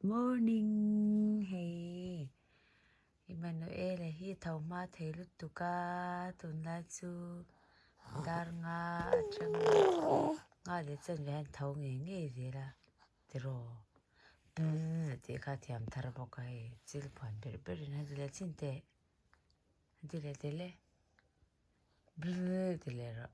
Morning hei Emmanuel a hi tho hma thei lutuk a tun lai chu dar nga a ṭhen a nga leh chen ve hian tho ngei ngei zel a ti rawh a tih kha a thiam thar bawk a hei chill puan ber ber in hadi leh chin teh hadi leh teh le ti leh rawh.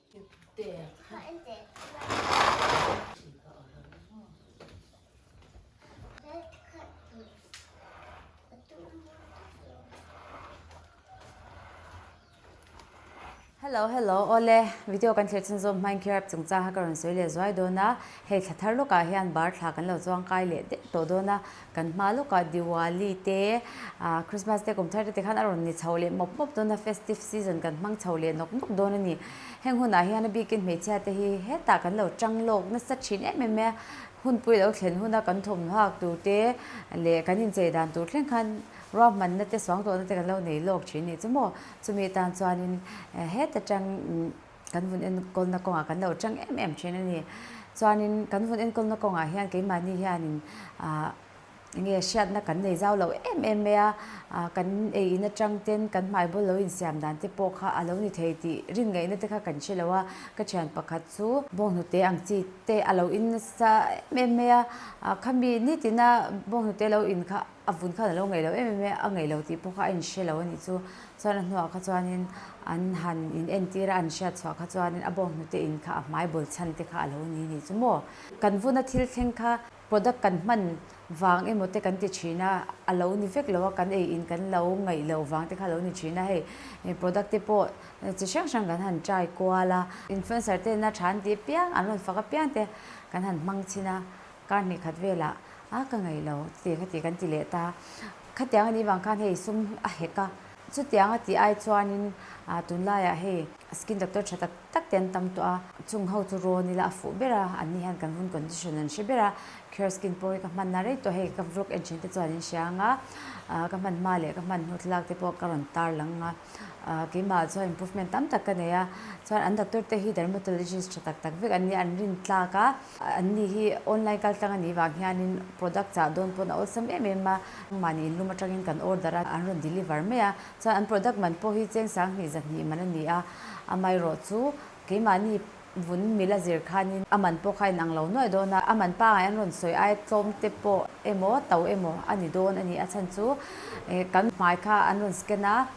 Hello hello awle video kan thlir chhun zawm hmain kherap chung chang kha ka rawn sawi leh zuai dawn a hei thlathar lawkah hian bar thla kan lo chuang kai leh deuh tawh dawn a. Kan hma lawkah Diwali te, Christmas te, kum thar te tikhan a rawn ni chhoh leh mawp mawp dawn a, festive season kan hmang chhoh leh nawk nawk dawn a ni. Heng hunah hian a bikin hmeichhia te hi hetah kan lo ṭang lawk nasa ṭhin em em e. Hunpui lo thlen hun a kan thawmhnaw hak tur te leh kan inchei dan tur thleng khan ruahmanna te suang tawhna te kan lo nei lawk ṭhin a nih chu maw? Chumi atan chuanin heta ṭang. kan vun enkawlna kawngah kan lo chang em em thin a ni. Chuanin kan vun enkawlna kawngah hian keimahni hianin ah enge hriatna kan nei zau lo em em mai a, ah kan ei in atang te, kan hmaibawl lo insiam dan te pawh kha a lo ni thei tih rin ngaih nate kha kan hre lo a. Ka thian pakhat chu bawnghnute ang chi te a lo in nasa em em mai a, ah khami nitina bawnghnute lo in kha a vun khan a lo ngaih loh em em e a ngaih loh tih pawh kha a inhria lo a nih chu chuan a hnungah kha chuanin an han in entira an hriat chhuah kha chuanin a bawk hnute in kha a hmai bawl chhan te kha a lo ni nih chu maw kan vuna thil thleng kha product kan hman vang emaw te kan ti thin a a lo ni vek lo a kan ei in kan lo ngaih loh vang te kha a lo ni thin a hei product te pawh chi hrang hrang kan han try kual a influencer te na tha an tih piang an rawn fak apiang te kan han hmang chhin a. Ka hnih khat velah, A ka ngaih lo, tiang ka tih kan ti leh ta. Khatiang a nih vang khan hei sum a hek a. Chutiang a tih ai chuanin tunlaiah hei skin doctor tha tak tak te an tam tawh a. Chung ho chu rawn ila a fuh ber a, an ni hian kan vun condition an hre ber a. Cure Skin pawi ka hmanna rei tawh hei ka vlog en thin te chuan in hria ang a. Ka hman hma leh ka hman hnu thlalak te pawh ka rawn tar lang a. Keimah chuan improvement tam tak ka nei a. Chuan an doctor te hi dermatologist tha tak tak vek an ni a, an rin tlak a. An ni hi online kaltlang a nih vang hianin product chah dawn pawn a awlsam em em a. Mahni in lum atangin kan order a, an rawn deliver mai a. Chuan an product man pawh hi chengsang hnih zat hnih man a ni a. Amaherawh chu keimahni vun mil a zir khanin a man pawh kha in ang lo nuaih dawn a. A man pangai an rawn sawi ai tlawm te pawh emaw tau emaw a ni dawn a ni a chhan chu. Kan hmai kha an rawn scan a.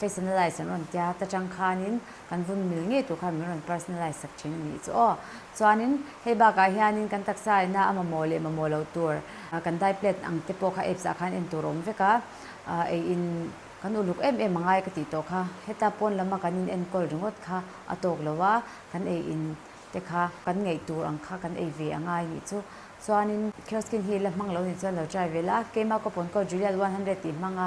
Personalize an rawn tia ta chang khanin kan vun mil ngei tur khan min rawn personalize sak thin a nih chu aw. Chuanin hei bakah hianin kan taksa ena a mamawh leh mamawh loh tur kan dai plate ang te pawh kha apps ah khan en tur a awm vek a, ei in kan uluk em em a ngai ka tih tawh kha heta pawn lama kan in enkawl ringawt kha a tawk lo a, kan ei in te kha kan ngaih tur ang kha kan ei ve a ngai a nih chu. Chuanin Kiosk in hi la hmang lo ni chuan lo try ve la, keima coupon code Juliet one hundred tih hmang a,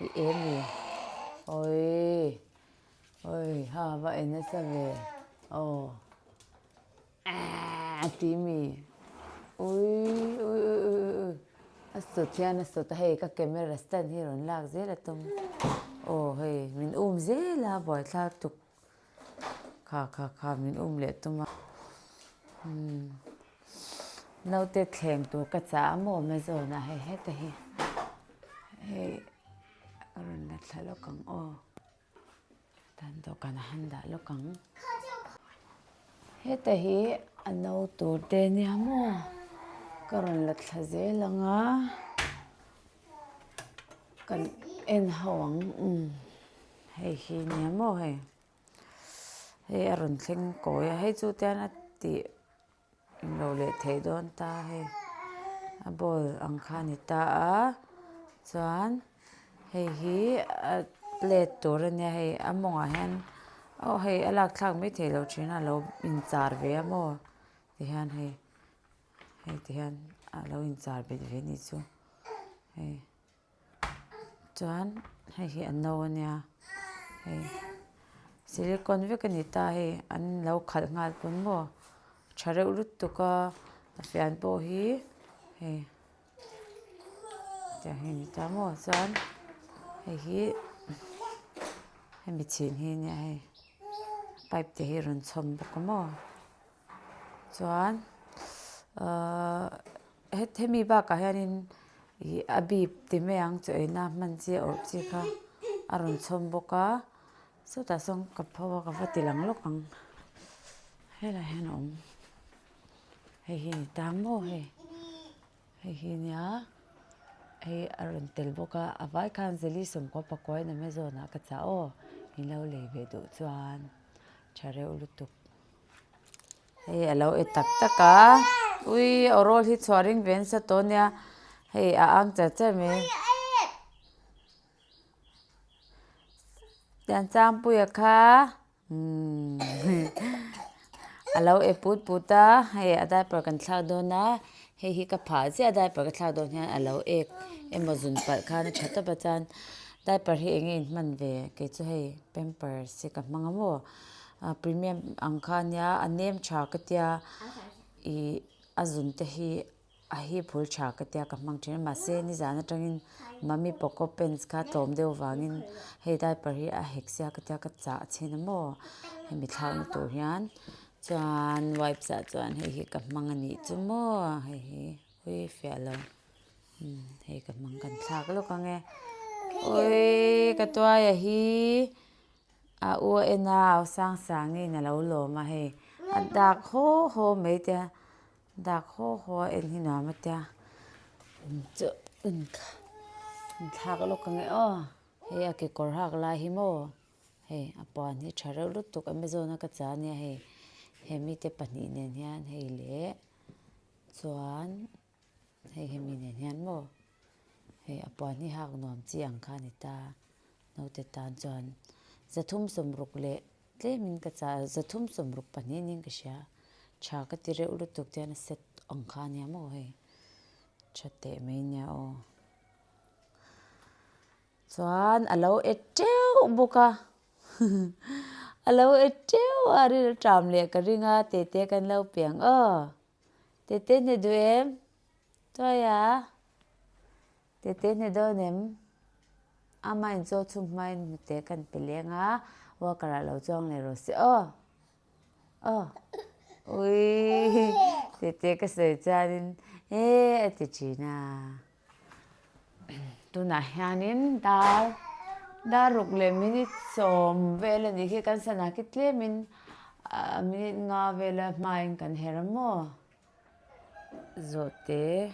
i em ni awii awii hava en nasa ve aw aah ti mi uiiii ui ui ui ui ui a sawt hian a sawt a hei ka camera stand hi a rawn lak zel a tum aw hei min um zel a buai thla tuk. Kha kha kha min um leh tum a. Umm naute thleng tur ka chah a maw Amazon ah hei heta hi hei ka rawn la thla lawk ang aw dan dawhkan ah han dah lawk ang heta hi a no tur te nia maw ka rawn la thla zel ang a kan en ho ang umm. Hei hi nia maw hei? Hei a rawn thleng kawi a, hei chu te hian a tih in lo leh theih dawn ta hei. A ball ang kha a ni ta a, chuan hei hi a let tur a nia hei a mawng ah hian aw hei a lak thlak mai thei lo thin a, a lo in char ve a maw ti hian hei, hei ti hian a lo in char bet ve ni chu hei. chuan hei hi a no a nia hei silicon vek a ni ta hei an lo khalh nghal pawh maw tha reuh rut tuk a a fian pawh hi hei chah hi a ni ta maw chuan hei hi hemi chhin hi a nia hei pipe te hi a rawn chhawm bawk a maw. Chuan ahh hemi bakah hianin ihh a bip ti mai ang chu eina hman chi a awrh chi kha a rawn chhawm bawk a sawtah sawn ka pho a ka va ti lang lawk ang helai hian a awm hei hi a ni ta maw hei hei hi a nia hei a rawn tel bawk a a vai khan zali sawmkua pakua in a hme zawnah ka chah aw in lo lei ve duh chuan tha reuh lutuk. Hei a lo e tak tak a, ui aw rawl hi chhuah ring ve an sa tawh nia, hei a ang cher cher mai a. Tiang Changpuia kha umm a lo e put put a, hei a diaper kan thlak dawn a, hei hi ka phah ziah a diaper ka thlak dawn hian a lo ek, emaw zun palh khan a tha tawp a chuan diaper hi eng nge in hman ve, kei chu hei pampers hi ka hmang a maw, Premium ang kha nia a nem tha ka tia ih a zun te hi a hi phul tha ka tia ka hmang thin a mahse nizan atangin mummy poco pants kha tlawm deuh vangin hei diaper hi a hek sia ka tia ka chah a chhin a maw hemi thlak na tur hian chuan wipe zah chuan hei hi ka hmang a nih chu maw hei hi ui fiah lo hei ka hmang kan thlak lawk ange ui ka tuaia hi. A u a en a Aw Sang Sangin a lo lawm a hei. A dak haw haw mai tia, dak haw haw a en hi nuam a tia. Chu inthlak lawk a nge aw, hei a kekawr hak lai hi maw, hei a puan hi tha reuh lutuk Amazon a ka chah ania hei. He mite pahnih nen hian hei leh chuan. Hei hi mi nen hian maw? Hei a puan hi hak nuam chi ang kha a ni ta. Naute tan chuan, Za thum sawm ruk leh tlem in ka chah a, za thum sawm ruk pahnih nin ka hria. Tha ka ti reuh lutuk chuan a set ang kha a nia maw hei? Tha teh mai nia aw. Chuan a lo e teuh bawk a, a lo e teuh a, a ril a ṭam leh ka ring a, Tete kan lo piang aw. Tete hne duh em? Tuai a, Tete hne dawn em? Ama in chaw chhung hma in hnute kan pe leng a, worker ah lo chuang leh rawh si aw, aw, ui, Tete ka sawi chuan in, He a ti thin a. Tunah hianin dar, dar ruk leh minute sawm vel a nih khi kan sana khi tlem a minute nga vela hmain kan her a maw? Zawhte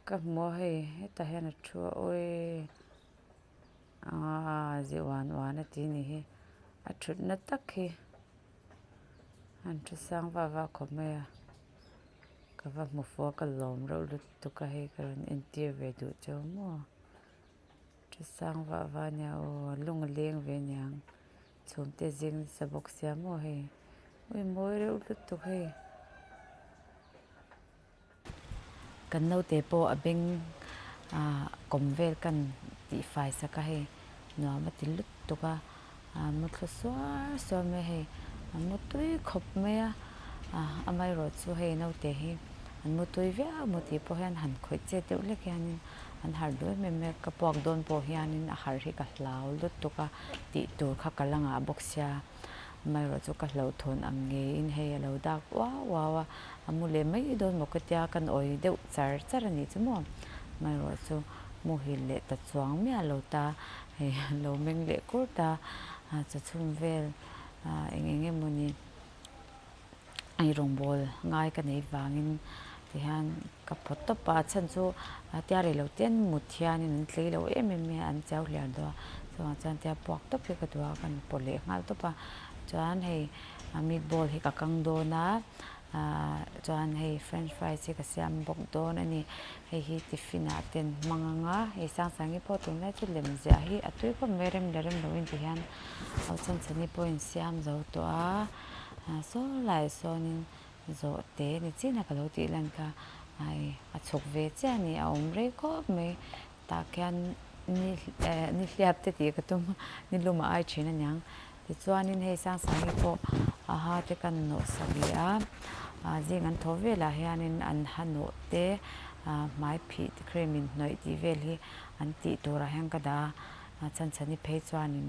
ka hmu a hei, hetah hian a thu a awi aa zih uan uan a ti a nih hi, a thutna tak hi. An thu sang va va khawp mai a, ka va hmu fo a ka lawm reuh lutuk a hei ka rawn entir ve duh chiau maw a, thu sang va va nia aw a lung a leng ve nia ang chhum te zing sa bawk sia maw hei, ui mawi reuh lutuk hei. Kan naute pawh a beng a, kawm vel kan tih fai sak a hei, nuam a ti lut tuk a, a mu thlu suar suar mai a hei, a mu tui khawp mai a, a amaherawh chu hei naute hi an mu tui viau maw tih pawh hian han khawih chet deuh hlek hianin an harh duai mai mai a, ka puak dawn pawh hianin a harh hi ka hlau lutuk a tih tur kha ka la ngah bawk sia. amaerawh chu ka hlauhthawn ang ngeiin hei a lo dak uau uau a, a mu leh mai dawn maw ka tia kan awi deuh char char a nih chu maw, amaerawh chu muhil leh ta chuang miah a lo ta hei a lo meng leh kûr ta, a chawchhûm vel eng eng emaw ni i rawngbâwl ngai ka neih vangin tihian ka phaw tawp a, a chhan chu tia rei lo chen mut hianin an tlei lo em em mai a an chau hliah duh a, chuvang chuan tia puak tawp hi ka duh a, kan pawh leh nghal tawp a, chuan hei meat ball hi ka kang dawn a, aaa chuan hei french fries hi ka siam bawk dawn a ni, hei hi tiffin ah ten hmang ang a, hei sang sangin i pawh tûn lai chu lem ziah hi a tui khawp mai a rem leh rem lo in tihian ho chhan chhan hi pawhin siam zo tawh a. ah sawlai sawnin zawh te ni chian a ka lo tih lan kha ai a chhuk ve chiah a ni a awm rei khawp mai tah khian ni eh nihliap te tih ka tum a ni lum a ai thin a niang tichuanin hei sang sangte pawh a ha te kan nawh sa leh a ah zing an thaw velah hianin an ha nawh te ah hmai phih te khrem in hnawih tih vel hi an tih turah hian ka dah a chhanchhan i phei chuanin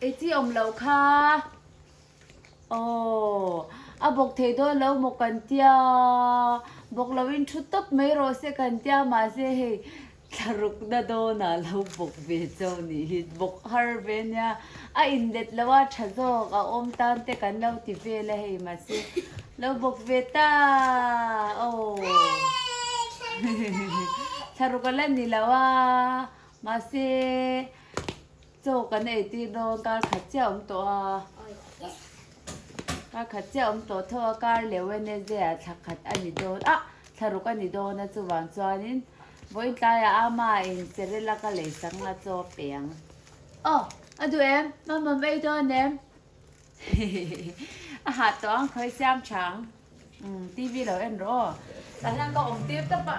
Ei chi awm loh kha aww a bawk thei dawn lo maw kan tia bawk lo in thu tawp mai rawh se kan tia mahse hei thlaruk na dawn ah lo bawk ve chau nih hi bawk har ve nia a in let lo a tha zawk a awm tan te kan lo ti vel a hei mahse lo bawk ve ta aww hehehe thlaruk a la ni lo a mahse. Chaw kan ei tir dawn, kar khat chiah awm tawh a, kar khat chiah awm tawh tho a, kar leh Wednesday ah thla khat a ni dawn ah thla ruk a ni dawn a, chuvang chuanin vawiin tlaiah ama in Cerelac ka lei sang a chaw peng. Aw, a duh em? Mamawm ei dawn em? Hehehehe, a hah tawh ang khawi siam tha ang, umm TV lo en rawh aw. Tah hian ka awm tir tawp a,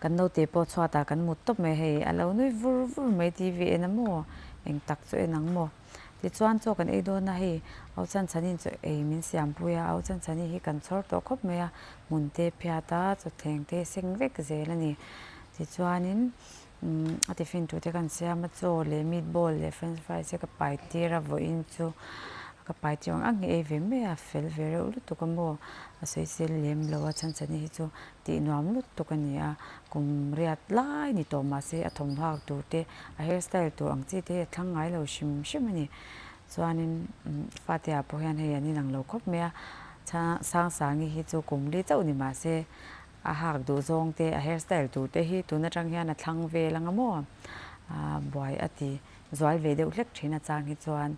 Kan naute pawh chhuatah kan mut tawp mai hei, a lo nui vur vur mai TV en a maw, eng tak chu en ang maw. Tichuan chaw kan ei dawn a hei, Aw Chanchani'n chu ei min siampui a, Aw Chanchani hi kan chhawr tawh khawp mai a, hmunte phiata, thutthlengte seng vek zel a ni. Tichuanin Umm a tiffin tute kan siam a chaw leh meat ball leh french fries te ka pai tir a vawi in chu ka pai tir ang ang hi ei ve mai a fel ve reuh lutuk a maw a sawi sel lem lo a chhanchani hi chu tih nuam lutuk a ni a kum riat lai ni tawh mah se a thawmhnaw ak tur te a hair style tur ang chi te hi a thlang ngai lo hrim hrim a ni chuan in umm fate ah pawh hian hei an inang lo khawp mai a chhang sangsangi hi chu kum li chauh ni mah se. A hak duh zawng te, a hair style duh te hi tun atang hian a thlang vel anga maw a buai a ti. Zual ve deuh hlek thin a chang hi chuan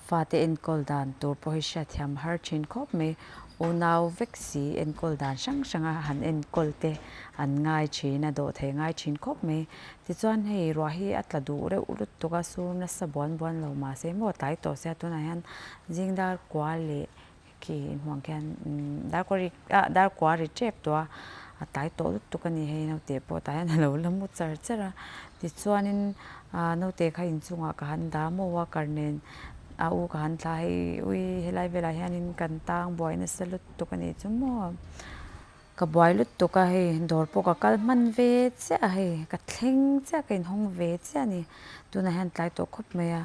fate enkawl dan tur pawh hi hria thiam har thin khawp mai. Unau vek si enkawl dan hrang hranga han enkawl te an ngai thin a, dawh thei ngai thin khawp mai. Tichuan hei ruah hi a tla duh reuh lutuk a, sur nasa buan buan lo mahse maw tlai tawh se a tunah hian zingdar kua leh Khi hmuang khian dar kua ri ah dar kua ri chep tua a tlai tawh lutuk tuk a ni hei naute pawh tah hian a lo la mu char char a tichuanin ah naute kha in chungah ka han dah maw a kar nen a u ka han thla hei ui helai velah hianin kan tang buai nasa lutuk a nih chu maw. Ka buai lutuk a hei, dawr pawh ka kal hman ve chiah a hei, ka thleng chiah ka inhawng ve chiah a ni. Tunah hian tlai tawh khawp mai a,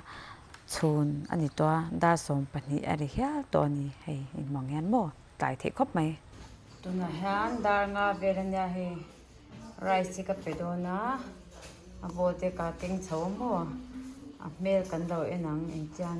chhun a ni tawh a, dar sawm pahnih a ri hial tawh a ni hei, in hmang hian maw tlai theih khawp mai. Tunah hian dar nga vel a nia hei, rice hi ka pe dawn a, a bawte ka keng chho maw, a hmel kan lo en ang engtian.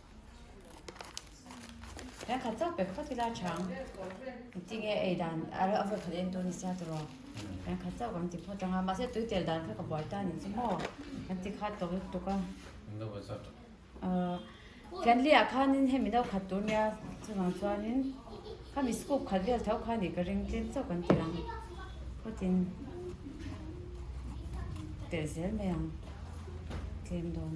Rengkhat zauh pek fat ila chang. Tinge ei dan ara a vawt khat en tur ni sia tur aw. Rengkhat zauh kan ti phaw chang a. Mahse tui tel dan kha ka buai ta ni chu maw. Kan ti khat tawh lutuk tuk a. Englo vawt zauh tuk. Ahh. Fianli ah khan in hemi no khat tur nia chunang chuan in khami scoop khat vel tho kha ni ka ring tlem chauh kan ti ang. Phawt in tel zel mai ang tlem dawn.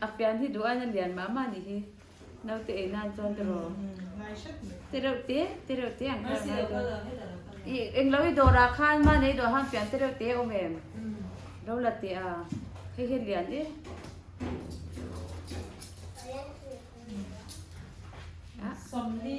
A pian hi duh aina lian mah mah nih hi. Naute ei nan chuan te raw. Te reuh te, te reuh te ang kha ngai dawn. I englo i dawrah khan mahni ei duh ahan pian te reuh te a awm em? Lo la teh a, hei hi a lian e. Sawmli.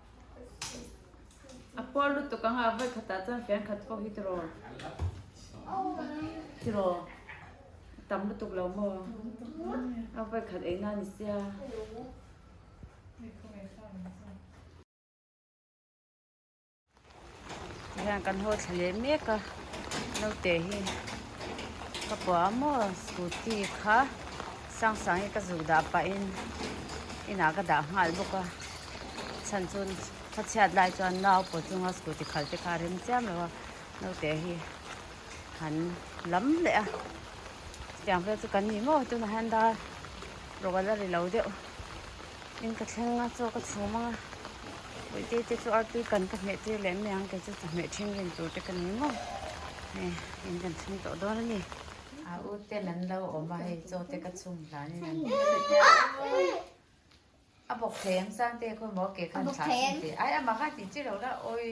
A pawl lutuk anga a vawi khatah chuan fian khat pawh hi tiraw tiraw a tam lutuk lo maw a vawi khat eina a ni sia. Tihian kan haw thla leh mek a, naute hi ka pawh a maw scooty kha sang sang hi ka zuk dah pah in inah ka dah nghal bawk a, chhan chuan khaw chhiat lai chuan nau pawh chunga scooty khal te kha a rem chiam lo a, naute hi han lam leh a, chutiang vel chu kan ni maw tunah hian dar rawlh a ri lo deuh in ka thleng a chaw ka chhum ang a. Puite te chu artui kan ka hmeh tir leh a ni ang, kei chu chawhmeh thinrim tur te ka ni maw? Hei in kan chhung tawh dawn a ni. A u ten an lo awm a, hei chaw te ka chhung hlan in an hmu tlat nia aw. A bawk thei ang chang te khaw maw? Ke khan thlah chhung teh ai, amah khan tih chiah loh la awi.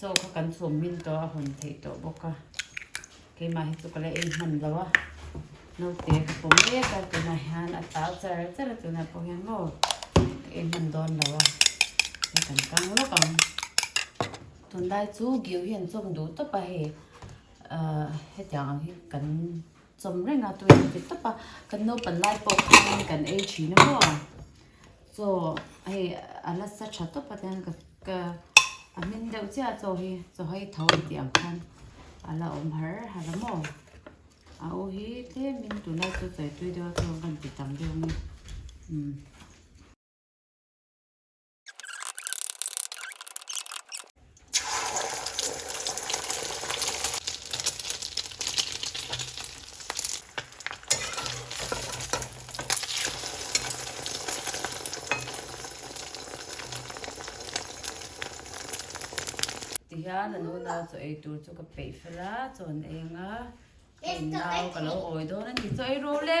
chaw kha kan chhum min tawh a hawn theih tawh bawk a keimah hi chu ka la en hman lo a naute ka pawm mek a tunah hian a tau char char a tunah pawh hian maw ka en hman dawn lo a hei kan kang lawk ang tunlai chu giu hi an chawm duh tawp a hei ahh hetiang ang hi kan chawm reng a tui ang tawp tawp a kan naupang lai pawh khangin kan ei thin a maw. Chaw hei a la sa tha tawp atan ka ka a hmin deuh chiah a chaw hi chaw hei tho a ti ang khan a la awm har har a maw a u hi tlem in tunah chu chawi tui deuh a chaw ban ti tam deuh nge um Ti hian a nu nau chu ei tur chu ka peih fel a, chawn eng a, eng nau ka lo awi dawn a ni. Chaw ei rawh le.